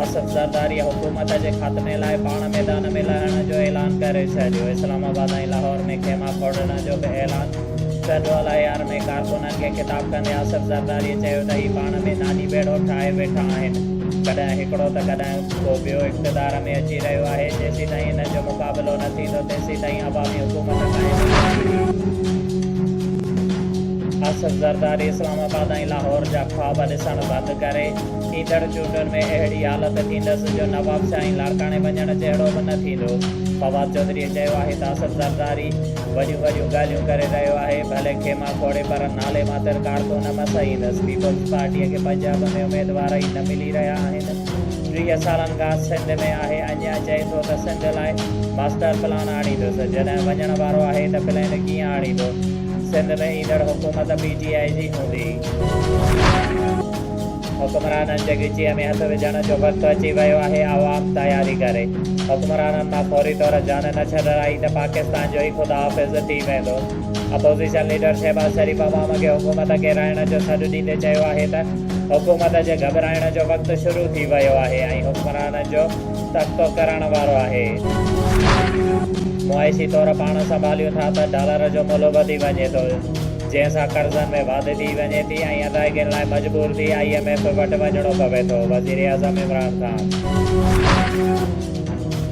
آصف زرداري حڪومت جي خاتمي لاء پاڻ ميدان ۾ لهڻ جو اعلان ڪري ڇڏيو، اسلام آباد ۽ لاهور ۾ خيما کوڙڻ جو به اعلان، سينٽرل اي آر ۾ ڪارڪنن کي خطاب ڪندي آصف زرداري چيو ته هي پاڻ ۾ ناني ٻيڙو ٺاهي ويٺا آهن، ڪڏهن هڪڙو ته ڪڏهن ڪو ٻيو اقتدار ۾ اچي رهيو آهي، جيسيتائين هنن جو مقابلو نه ٿيندو تيسيتائين عوامي حڪومت قائم نه ٿيندي. آصف زرداري اسلام آباد ۽ لاهور جا خواب ڏسڻ بند ڪري. ايندڙ چونڊن ۾ اهڙي حالت ٿيندس جو نواب سائين لاڙڪاڻي وڃڻ جهڙو به نه ٿيندو. فواد چوڌريء چيو آهي ته اصف زرداري وڏيون وڏيون ڳالهيون ڪري رهيو آهي، ڀلي خيما کوڙي پر نالي ماتر ڪارڪن نه مسئيندس، پيپلز پارٽيء کي پنجاب ۾ اميدوار ئي نه ملي رهيا آهن، ٽيهه سالن کان سنڌ ۾ آهي، اڃا چئي ٿو ته سنڌ لاء ماسٽر پلان آڻيندس، جڏهن وڃڻ وارو آهي ته پلين ڪيئن آڻيندو، سنڌ ۾ ايندڙ حڪومت پي ٽي آء جي هوندي. حڪمرانن جي ڳچيء ۾ هٿ وجهڻ جو وقت اچي ويو آهي، عوام تياري ڪري. حڪمرانن مان فوري طور جان نه ڇڏرائي ته پاڪستان جو ئي خدا حافظ ٿي ويندو. اپوزيشن ليڊر شهباز شريف عوام کي حڪومت ڪيرائڻ جو سڏ ڏيندي چيو آهي ته حڪومت جي گهٻرائڻ جو وقت شروع ٿي ويو آهي ۽ حڪمرانن جو تختو ڪرڻ وارو آهي. معاشي طور پاڻ سنڀاليون ٿا ته ڊالر جو ملهه وڌي وڃي ٿو. جنهن سان قرضن ۾ واڌ ٿي وڃي ٿي ۽ ادائگين لاء مجبور ٿي آء ايم ايف وٽ وڃڻو پوي ٿو، وزيراعظم عمران خان.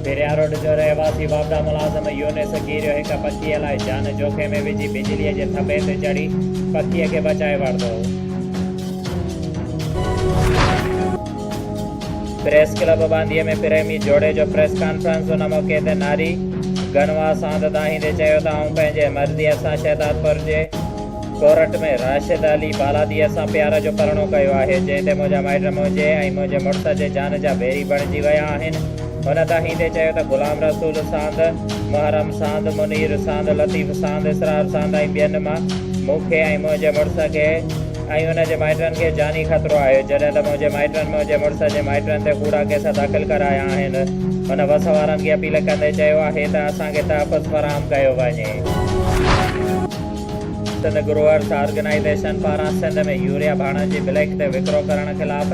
پيرياروڊ جو رهواسي واپڊا ملازم يونس ڪيريو هڪ پکيء لاء جان جوکي ۾ وجهي بجليء جي ٿنڀي تي چڙهي پکيء کي بچائي ورتو. پريس ڪلب ٻانڌي ۾ پريمي جوڙي جو پريس ڪانفرنس ان موقعي تي ناري گنوا ساند دانهيندي چيو ته آئون پنهنجي مرضيء سان شهدادپور جي ڪورٽ ۾ راشد علي بالاديء سان پيار جو پرڻو ڪيو آهي جنهن تي منهنجا مائٽ منهنجي ۽ منهنجي مڙس جي جان جا ويري بڻجي ويا آهن هن دانهيندي چيو ته غلام رسول ساند محرم ساند منير ساند لطيف ساند اسرار ساند ۽ ٻين مان مون کي ۽ منهنجي مڙس کي ۽ ان جي مائٽن کي جاني خطرو آهي، جڏهن ته منهنجي مائٽن منهنجي مڙس جي مائٽن تي ڪوڙا ڪيس داخل ڪرايا آهن. هن بس وارن کي اپيل ڪندي چيو آهي ته اسان کي تحفظ فراهم ڪيو وڃي. سنڌ گروئرس آرگنائيزيشن پاران سنڌ ۾ يوريا ڀاڻن جي بليڪ تي وڪرو ڪرڻ خلاف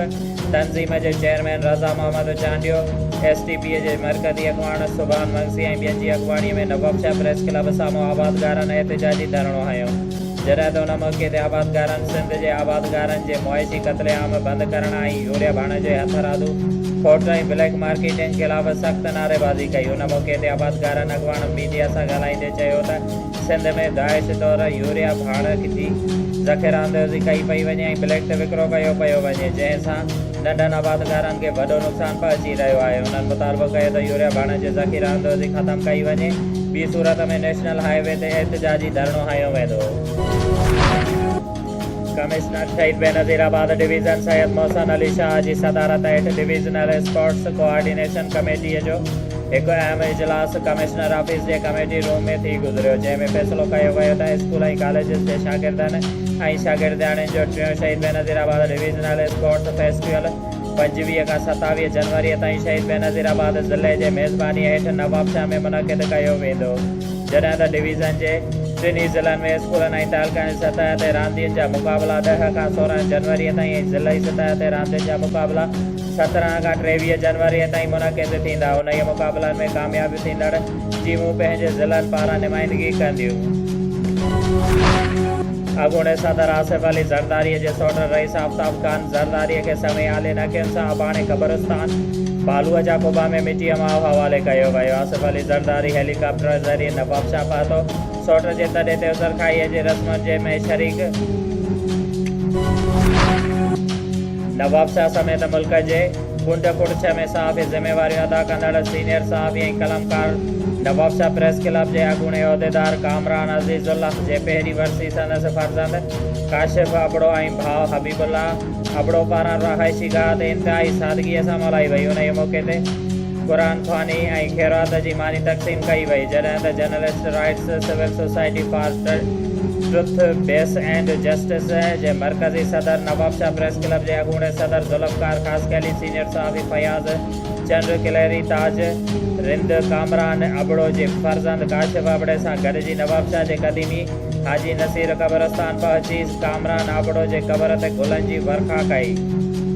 تنظيم جي chairman Raza Muhammad Chandio, S T P جي مرڪزي اڳواڻ سبحان مگسي ۽ ٻين جي اڳواڻي ۾ نوابشاهه پريس ڪلب سامهون آبادگارن احتجاجي ڌرڻو هنيو. جڏهن ته ان موقعي تي آبادگارن سنڌ جي آبادگارن جي معاشي قتل عام بند ڪرڻ ۽ يوريا ڀاڻ جي هٿ رادو کوٽ ۽ بليڪ مارڪيٽنگ خلاف سخت نعريبازي ڪئي ان موقعي تي آبادگارن اڳواڻ ميڊيا سان ڳالهائيندي چيو ته سنڌ ۾ داعش طور يوريا ڀاڻ جي ذخيره اندوزي ڪئي پئي وڃي ۽ بليڪ تي وڪرو ڪيو پيو وڃي جنهن سان ننڍن آبادگارن کي وڏو نقصان پهچي رهيو آهي انهن مطالبو ڪيو ته يوريا ڀاڻن جي ذخيره اندوزي ختم ڪئي وڃي ٻي صورت ۾ نيشنل هاء وي تي احتجاجي ڌرڻو هنيو ويندو. Commissioner Shaheed Benazirabad division Syed Mohsin Ali Shah جي صدارت هيٺ ڊويزنل اسپورٽس ڪوآرڊينيشن ڪميٽي جو هڪ اهم اجلاس ڪمشنر آفيس جي ڪميٽي روم ۾ ٿي گذريو جنهن ۾ فيصلو ڪيو ويو ته اسڪول ۽ ڪاليجز جي شاگردن ۽ شاگردياڻين جو ٽيون Shaheed Benazirabad divisional sports festival پنجويهه کان ستاويهه جنوري تائين شهيد بينظير آباد ضلعي جي ميزباني هيٺ نوابشاهه ۾ منعقد ڪيو ويندو جڏهن ته ڊويزن جي ٽن ئي ضلعن ۾ اسڪولن ۽ تعلقن جي سطح تي راندين جا مقابلا ڏهه کان سورهن جنوري تائين ۽ ضلعي سطح تي راندين جا مقابلا سترهن کان ٽيويهه جنوري تائين منعقد ٿيندا انهيء مقابلن ۾ ڪامياب ٿيندڙ ٽيمون پنهنجي ضلعن پاران نمائندگي ڪنديون. اڳوڻي صدر آصف علي زرداري جي سوٽ رئيس آفتاب خان زرداري کي سوين عالين اکين سان اباڻي قبرستان بالوء جا قبا ۾ مٽيء ماء حوالي ڪيو ويو. آصف علي زرداري هيلي ڪاپٽر ذريعي نوابشاهه پهتو. سوٽ جي تڏي تي عذرخواهيء جي رسمن جي ۾ شريڪ. نوابشاهه سميت ملڪ جي. ڪنڊ ڪوٽ ڇهه ۾ صحافي ذميواريون ادا ڪندڙ سينيئر صحافي ۽ قلمڪار نوابشاهه پريس ڪلب جي اڳوڻي عهديدار ڪامران عزيزالله جي پهرين ورسي سندس فرزند ڪاشف ابڙو ۽ ڀاء حبيب الله ابڙو پاران رهائشي گاهه تي انتهائي سادگيء سان ملهائي وئي انهيء موقعي تي قرآن خواني ۽ خيرات جي ماني تقسيم ڪئي وئي جڏهن ته journalist rights civil society for truth, peace and justice جي مرڪزي صدر نوابشاهه پريس ڪلب جي اڳوڻي صدر ذوالفقار خاصخيلي، سينيئر صحافي فياض چنڙ ڪلهري، تاج رند ڪامران ابڙو جي فرزند ڪاشف ابڙي سان گڏجي نوابشاهه جي قديمي حاجي نصير قبرستان پهچي ڪامران ابڙو جي قبر تي گلن جي ورکا ڪئي.